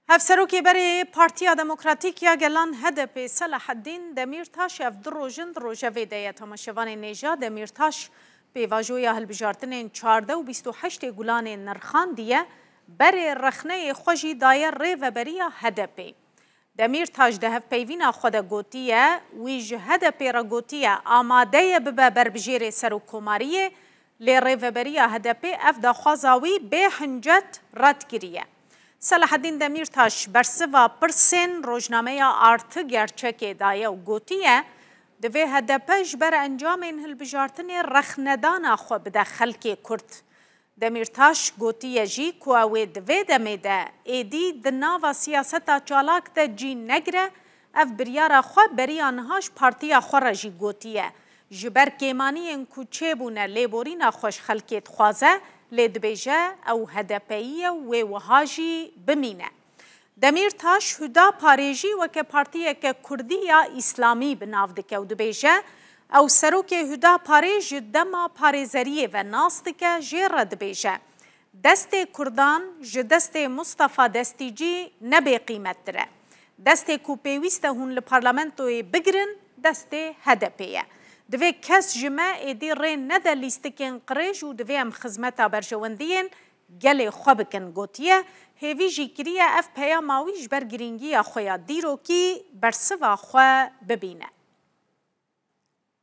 Hevserokê berê Partiya Demokratîk ya Gelan, HDP'ê Selaheddîn Demîrtaş ev du roj in di rojevê de ye. Temaşevanê nêja Demîrtaş pêvajoya hilbijartinên çardeh û bîst û heştê gulanê nirxandiye, berê rexneyê xwe jî daye Rêveberiya HDP'ê. Demîrtaş di hevpeyvîna xwe de gotiye, wî ji HDP'ê re gotiye amade ye bibe berbijêrê Serokkomariyê, lê Rêveberiya HDP'ê ev daxwaza wî bê hincet red kiriye. Selaheddîn Demîrtaş bersiva pirsên rojnameya Artı Gerçek'ê daye û gotiye, Divê hdp ji ber encamên hilbijartinê rexnedana xwe bide xelkê Kurd. Demîrtaş gotiye jî ku ew ê di vê demê de êdî di nava siyaseta çalak de cî negire, ev biryara xwe beriya niha ji partiya xwe re jî gotiye. Ji ber kêmaniyên ku çêbûne lêborîna xwe ji xelkê dixwaze, lê dibêje ew HDP'yî ye û wê wiha jî bimîne. Demîrtaş Hudaparê jî weke partiyeke kurdî ya îslamî bi nav dike û dibêje, Ew serokê Hudaparê ji dema parêzeriyê ve nas dike jê re dibêje, Destê kurdan ji destê Mustafa Destîcî ne bêqîmettir e. Destê ku pêwîst e hûn li parlamentoyê bigirin destê HDP'ê ye. Divê kes ji me êdî rê nede lîstikên qirêj û divê em xizmeta berjewendiyên gelê xwe bikin gotiye, hêvî jî kiriye ev peyama wî ji ber girîngiya xwe ya dîrokî bersiva xwe bibîne.